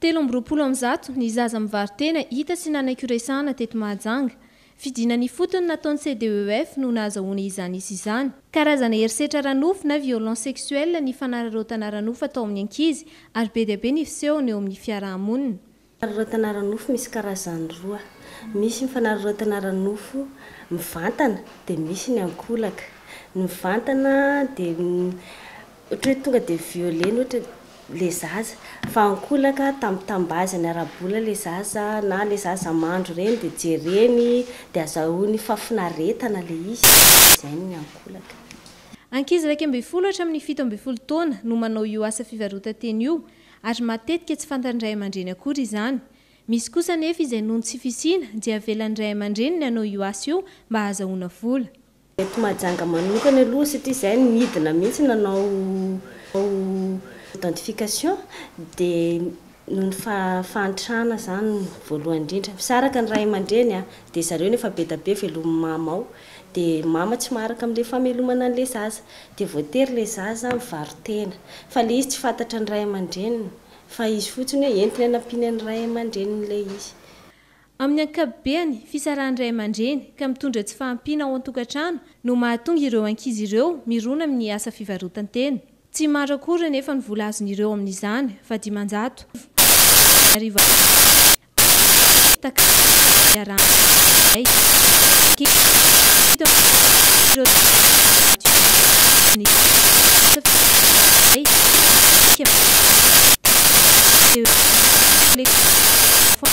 Telo amby roapolo amin'ny zato ny zaza mivaro-tena hita sy nanaiky ho resahana teto Mahajanga. Fidinana ifotony nataon'ny CDEF no nahazahoany izany isa izany. Karazana herisetra ara-nofo na violence sexuelle ny fanararaotana ara-nofo atao amin'ny ankizy ary be dia be ny fisehony eo amin'ny fiaraha-monina. Fanararaotana ara-nofo misy karazany roa. Misy ny fanararaotana ara-nofo mivantana dia misy ny ankolaka. Ny mivantana dia Ohatra hoe tonga dia violena ohatra ilay zaza, fa ankolaka tambitambazany ara-bola ilay zaza na ilay zaza mandro ireny dia jereny dia azahoany fafinaretana ilay izy, izay ny ankolaka. Ankizy iraika ambin'ny folo hatramin'ny fito ambin'ny folo taona no manao io asa fivarotan-teny io ary matetika tsy fantan'ny ray aman-dreny akory izany. Misy kosa anefa izay noho ny tsy fisiana dia avelan'ny ray aman-dreniny hanao io asa io mba hahazahoana vola. Eto Mahajanga manokana aloha satria izahay no nidina mihitsy nanao identification dia noho ny fahantrana izany voalohany indrindra. Misaraka ny ray aman-dreny dia zareo no efa be dia be velomin'ny mama ao dia mama tsy maharaka amin'ilay famelomana an'ilay zaza dia voatery ilay zaza mivaro-tena fa ilay izy tsy fantatra ny ray aman-dreniny fa izy fotsiny hoe entina any ampiana ny ray aman-dreniny ilay izy. Amin'ny ankapobeny, fisarahan'ny ray aman-dreny ka mitondra tsy fahampiana ao an-tokantrano no mahatonga ireo ankizy ireo mirona amin'ny asa fivarotan-tena. Tsy maro akory anefa ny vola azon'ireo amin'izany fa dimanjato Ariary vao azo takarina iarahan'ny ray aman-dreny izay. Fito ambin'ny folo tapitrisa Ariary ny asa fivarotan-tena izay midika fa tsy ampy teo ho eo amin'ny kolektiora.